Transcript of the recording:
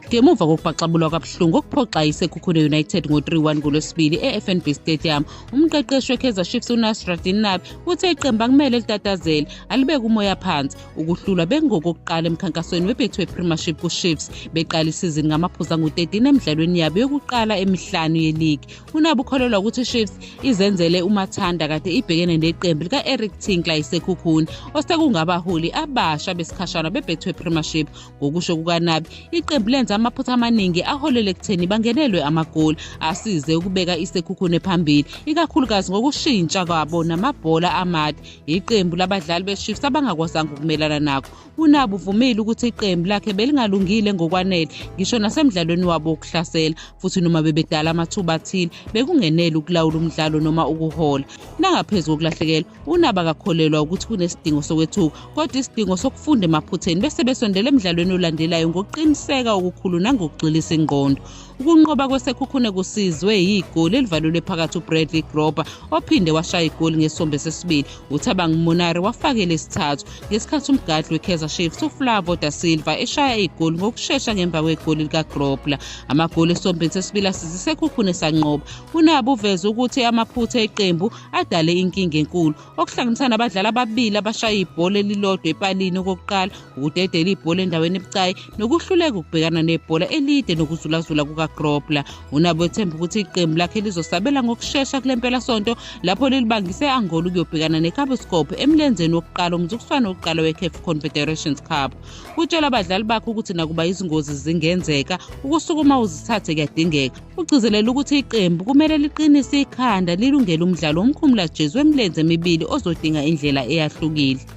ngemuva kokubhaxabulwa kwabuhlungu okuphoxa isekhukhune united ngo-3-1 ngolwesibili e-fnb stadium umqeqeshi wekaizer chiefs unasradin nabi uthe iqembu akumele litatazele alibeke umoya phansi ukuhlulwa bengokokuqala emkhankasweni webethu wepremieship kuchiefs beqala isizini ngamaphuzu angu-13 emidlalweni yabo yokuqala emihlanu yeligi unabo ukholelwa ukuthi ichiefs izenzele umathanda kade ibhekene neqembu lika-eric tinkler isekhukhuni osekungabaholi abasha besikhashana bebethwe premiership ngokusho kukanabi iqembu lenza amaphutha amaningi aholele ekutheni bangenelwe amagoli asize ukubeka isekhukhune phambili ikakhulukazi ngokushintsha kwabo namabhola amade yiqembu labadlali bechiefs abangakwazanga ukumelana nakho UNabi uvumile ukuthi iqembu lakhe belingalungile ngokwanele ngisho nasemdlalweni wabo wokuhlasela futhi noma bebedala amathuba athile bekungenele ukulawula umdlalo noma ukuhola. Nangaphezu kokulahlekelwa, uNabi akakholelwa ukuthi kunesidingo sokwethuka kodwa isidingo sokufunda emaphutheni bese besondela emdlalweni olandelayo ngokuqiniseka okukhulu nangokugxilisa ingqondo. Ukunqoba kwesekhukhune kusizwe yigoli elivalelwe phakathi uBradley Grober ophinde washaya igoli ngesombe sesibili. UThabang Monare wafakele isithathu ngesikhathi umgadli weKaizer Chiefs uFlavo da Silva eshaya igoli ngokushesha ngemva kwegoli likaGrobler. Amagoli esombeni sesibili asize isekhukhune sanqoba. UNabu uveze ukuthi amaphutha eqembu adale inkinga enkulu okuhlanganisa nabadlali ababili abashaya ibhola elilodwa epalini okokuqala ukudedela ibhola endaweni ebucayi nokuhluleka ukubhekana nebhola elide nokuzulazula kukagrobler unabo ethemba ukuthi iqembu lakhe lizosabela ngokushesha kule mpelasonto lapho lilibangise angola ukuyobhekana necaboscope emlenzeni wokuqala umzukuswane wokuqala wecaf confederations cup utshela abadlali bakhe ukuthi nakuba izingozi zingenzeka ukusukuma uzithathe kuyadingeka ugcizelela ukuthi iqembu kumele liqinise ikhanda lilungele umdlalo womkhumula jesu wemilenze emibili ozodinga indlela eyahlukile